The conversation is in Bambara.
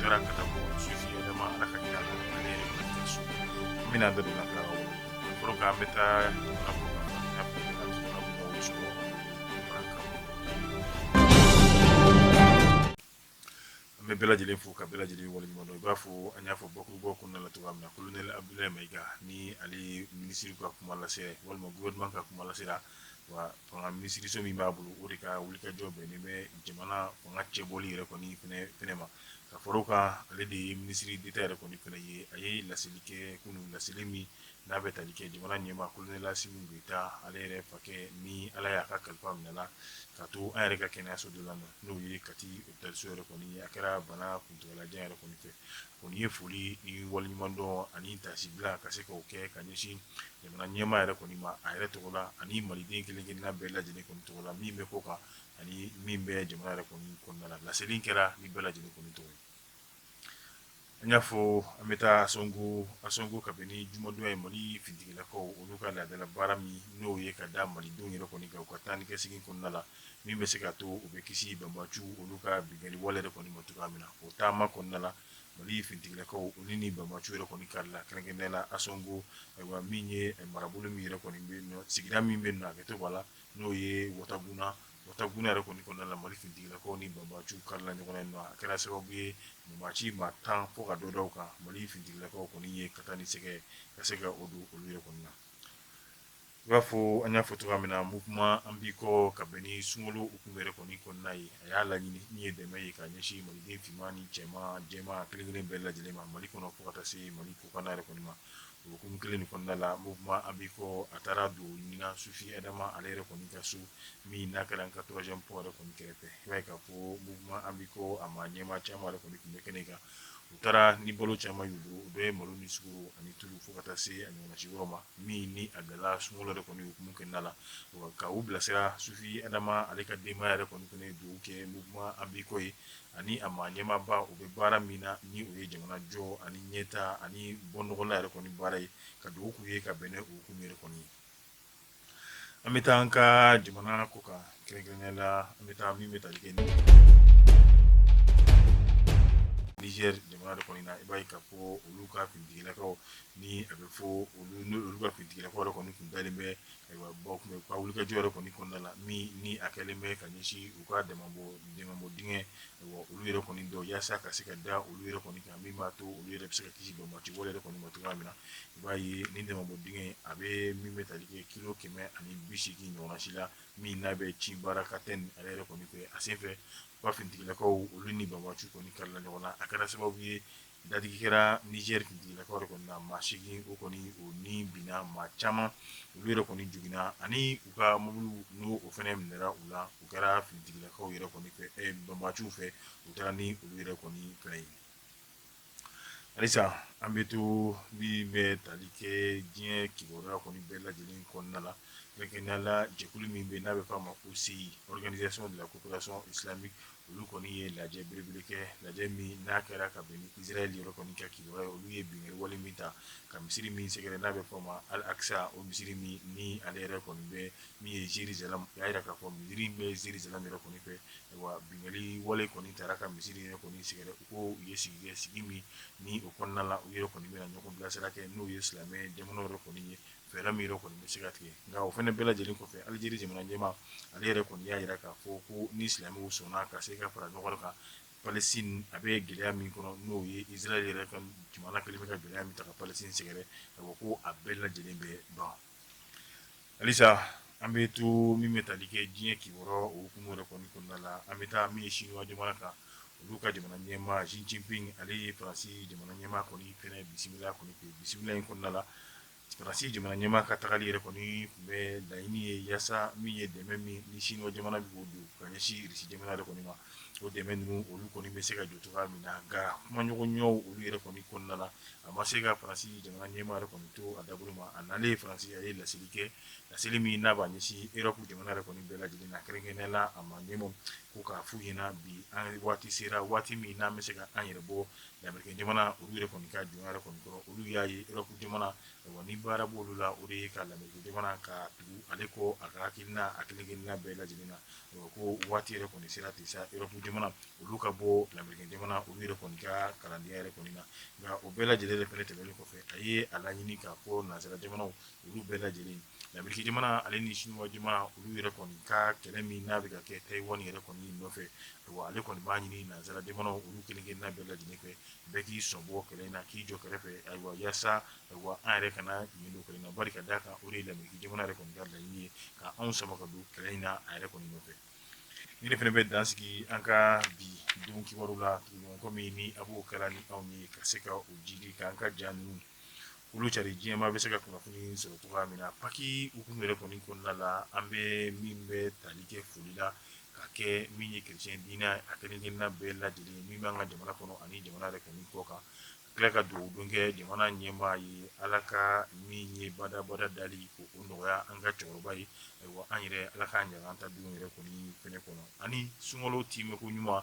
Taara ka bɔ Sufi Adama ale ka kira su bɛna dɔ la ka fɔlɔ an bɛ taa an bɛ bɛɛ lajɛlen fo ka bɛɛ lajɛlen waleɲumandɔn i b'a fɔ an y'a fɔ bakurubɔ kun na la cogoya min na kolonɛli Abdoulaye Maiga ni ale minisiri ka kuma lase walima gouvernement ka kuma lasela wa fanga minisiriso min b'a bolo o de ka wulikajɔ bɛn ni bɛ jamana fanga cɛbɔli yɛrɛ kɔni fana ma ka fara o kan ale de ye minisiri deta yɛrɛ kɔni fana ye a ye laseli kɛ kunun laseli min n'a bɛ tali kɛ jamana ɲɛmaa kolonɛli Asimi Goyita ale yɛrɛ fakɛ ni ala y'a ka kalifa minɛ a la ka to an yɛrɛ ka kɛnɛyaso dɔ la n'o ye kati opitaliso yɛrɛ kɔni a kɛra bana kuntagalajan yɛrɛ kɔni fɛ O ye foli ni waleɲumandɔn ani tasibila ka se k'o kɛ ka ɲɛsin jamana ɲɛmaa yɛrɛ kɔni ma a yɛrɛ tɔgɔ la ani maliden kelen kelen bɛɛ lajɛlen kɔni tɔgɔ la min bɛ kɔkan ani min bɛ jamana yɛrɛ kɔni kɔnɔna la laseli kɛra ni bɛɛ lajɛlen kɔni tɔgɔ ye an y'a fɔ an bɛ taa Ansongo Ansongo ka bɛn ni jumadon ye mali finitigilakaw olu ka laadadala baara min n'o ye ka da malidenw yɛrɛ kɔni kan u ka taa ni ka segin kɔnɔna la min bɛ se ka to u bɛ kisi banbaci olu ka binkanni wale yɛrɛ kɔni ma cogoya min na, o taama kɔnɔna la Mali finitigilakaw olu ni banbaci yɛrɛ kɔni karila kɛrɛnkɛrɛnnenya la Ansongo, ayiwa min ye marabolo min yɛrɛ kɔni bɛ yen nɔ, sigida min bɛ yen nɔ hakɛto b'a la n'o ye Wataguna, Wataguna yɛrɛ kɔni kɔnɔna la Mali finitigilakaw ni banbaciw karila ɲɔgɔn na yen nɔ, a kɛra sababu ye banbaci maa tan fo ka dɔ da u kan Mali finitigilakaw kɔni ye ka taa ni sɛgɛ ka se ka o don olu yɛrɛ kɔni na. I b'a fɔ an y'a fɔ cogoya min na mouvement an b'i kɔ ka bɛn ni sunkalo hukumu yɛrɛ kɔni kɔnɔna ye a y'a laɲini min ye dɛmɛ ye ka ɲɛsin maliden finman ni cɛ jɛman kelenkelen bɛɛ lajɛlen ma mali kɔnɔ fo ka taa se mali kɔkanna yɛrɛ kɔni ma o hukumu kelen kɔnɔna la mouvement an b'i kɔ a taara don ɲinan Sufi Adama ale yɛrɛ kɔni ka so min n'a kɛra an ka troisième pont yɛrɛ kɔni kɛrɛfɛ i b'a ye k'a fɔ mouvement an b'i kɔ a maa ɲɛmaa caman yɛrɛ kɔni tun bɛ kɛnɛ kan u taara ni balo caman y'u bolo u bɛ malo ni sukaro ani tulu fo ka taa se a ɲɔgɔnna si yɔrɔ ma min ni a dala sunkalo yɛrɛ kɔni hukumu kɔnɔna la ka u bilasira Sufi Adama ale ka denbaya yɛrɛ kɔni fana dugawu kɛ mouvement an b'i kɔ ye ani a maa ɲɛmaaba u bɛ baara min na ni o ye jamana jɔ ani ɲɛtaa ani bɔnɔgɔla yɛrɛ kɔni baara ye ka dugawu k'u ye ka bɛn ni o hukumu yɛrɛ kɔni ye an bɛ taa an ka jamana kɔkan kɛrɛnkɛrɛnnenya la an bɛ taa min bɛ tali kɛ Nizɛri jamana de kɔni na i b'a ye k'a fɔ olu ka finitigilakaw Ni a bɛ fɔ olu ka finitigilakaw kɔni tun dalen bɛ ayiwa u ka wulikajɔ yɛrɛ kɔni kɔnɔna la min ni a kɛlen bɛ ka ɲɛsin u ka dɛmɛbɔ dingɛ olu yɛrɛ kɔni dɔ yaasa ka se ka da olu yɛrɛ kɔni kan min b'a to olu yɛrɛ bɛ se ka kisi banbaanci wale yɛrɛ kɔni ma cogoya min na i b'a ye ni dɛmɛbɔ dingɛ a bɛ min bɛ tali kɛ kilo kɛmɛ ani biseegin ɲɔgɔnna si la min n'a bɛ Tchibarakaten yɛrɛ kɔni fɛ a sen fɛ ba finitigilakaw olu ni banbaanciw kɔni karila ɲɔgɔn na a kɛra sababu ye Dadigi kɛra Niger finitigilakaw yɛrɛ kɔni na maa seegin o kɔni o ni binna maa caman olu yɛrɛ kɔni joginna ani u ka mobiliw n'o fana minɛra u la u kɛra finitigilakaw yɛrɛ kɔni fɛ banbaanciw fɛ u taara ni olu yɛrɛ kɔni fana ye halisa an bɛ to min bɛ tali kɛ diɲɛ kibaruya kɔni bɛɛ lajɛlen kɔnɔna la kɛrɛnkɛrɛnnenya la jɛkulu min bɛ n'a bɛ f'a ma ko OCI organisation de la coopération islamique Olu kɔni ye lajɛ belebele kɛ lajɛ min n'a kɛra ka bɛn ni Israël yɛrɛ kɔni ka kibaruya ye olu ye binkanni wale min ta ka misiri min sɛgɛrɛ n'a bɛ fɔ a ma Al Aqsa o misiri min ni ale yɛrɛ kɔni bɛ min ye Jerusalem u y'a jira k'a fɔ misiri in bɛ Jerusalem yɛrɛ kɔni fɛ wa binkanni wale kɔni tara ka misiri yɛrɛ kɔni sɛgɛrɛ u ko u ye sigi kɛ sigi min ni o kɔnɔna la u yɛrɛ kɔni bɛna ɲɔgɔn bilasira kɛ n'o ye silamɛ jamanaw yɛrɛ kɔni ye fɛɛrɛ min yɛrɛ kɔni bɛ se ka tigɛ nka o fana bɛɛ lajɛlen kɔfɛ Alijeri jamana ɲɛmaa ale yɛrɛ kɔni y'a jira k'a fɔ ko ni silamɛw sɔnna ka se ka fara ɲɔgɔn kan Palestine a bɛ gɛlɛya min kɔnɔ n'o ye Israël yɛrɛ ka jamana kɛlen bɛ ka gɛlɛya min ta ka Palestine sɛgɛrɛ ka fɔ ko a bɛɛ lajɛlen bɛ ban halisa an bɛ to min bɛ tali kɛ diɲɛ kibaruya o hukumu yɛrɛ kɔni kɔnɔna la an bɛ taa min ye Chinois jamana kan olu ka jamana ɲɛmaa Xi Jinping ale ye Faransi jamana ɲɛmaa kɔni fɛnɛ bisimila kɔni k'o bisimila in kɔnɔna la Faransi jamana ɲɛmaa ka tagali yɛrɛ kɔni tun bɛ laɲini ye yaasa min ye dɛmɛ min ni Siniwa jamana bɛ k'o don ka ɲɛsin Russie jamana yɛrɛ kɔni ma, o dɛmɛ ninnu olu kɔni bɛ se ka jɔ cogoya min na, nka kumaɲɔgɔnyaw olu yɛrɛ kɔni kɔnɔna la, a ma se ka France jamana ɲɛmaa yɛrɛ kɔni to a dabolo ma, a nalen France a ye laseli kɛ, laseli min n'a b'a ɲɛsin Europe jamana yɛrɛ kɔni bɛɛ lajɛlen na, kɛrɛnkɛrɛnnenya la a maa ɲɛmaw ko k'a f'u ɲɛna bi an waati sera waati min n'an bɛ se ka an yɛrɛ bɔ Lamerikɛn jamana olu yɛrɛ kɔni ka jɔnya yɛrɛ kɔni kɔrɔ olu y'a ye Europe jamana ni baara b'olu la o de ye ka Lamerikɛn jamana ka tugu ale kɔ a ka hakilina a kelen-kelenna bɛɛ lajɛlen na ko waati yɛrɛ kɔni sera ten sa Europe jamana olu ka bɔ Lamerikɛn jamana olu yɛrɛ kɔni ka kalandenya yɛrɛ kɔni na nka o bɛɛ lajɛlen de fana tɛmɛnen kɔfɛ a ye a laɲini ka ko nanzara jamanaw Olu bɛɛ lajɛlen Lameriki jamana ale ni Siniwa jamana olu yɛrɛ kɔni ka kɛlɛ min n'a bɛ ka kɛ Taïwan yɛrɛ kɔni nɔfɛ ale kɔni b'a ɲini nanzara jamanaw olu kelen-kelenna bɛɛ lajɛlen fɛ bɛɛ k'i sen bɔ kɛlɛ in na k'i jɔ kɛrɛfɛ ayiwa yaasa ayiwa an yɛrɛ kana ɲin don kɛlɛ in na bari ka d'a kan o de ye Lameriki jamana yɛrɛ kɔni ka laɲini ye ka anw sama ka don kɛlɛ in na a yɛrɛ kɔni nɔfɛ nin de fana bɛ dan sigi an ka bi don kibaru la kɔmi min ni a b'o kɛra ni anw ye ka se ka o jidi k'an ka jan ninnu olu cari diɲɛmaa bɛ se ka kunnafoni sɔrɔ cogoya min na paki hukumu yɛrɛ kɔni kɔnɔna la an bɛ min bɛ tali kɛ foli la ka kɛ min ye chrétien diinɛ a kelenkelenna bɛɛ lajɛlen min b'an ka jamana kɔnɔ ani jamana yɛrɛ kɔni kɔkan ka tila ka dugawu don kɛ jamana ɲɛmaa ye ala ka min ye badabada dali k'o nɔgɔya an ka cɛkɔrɔba ye ayiwa an yɛrɛ ala k'an ɲaga an ta don yɛrɛ kɔni fɛnɛ kɔnɔ ani sunkalo timɛ ko ɲuman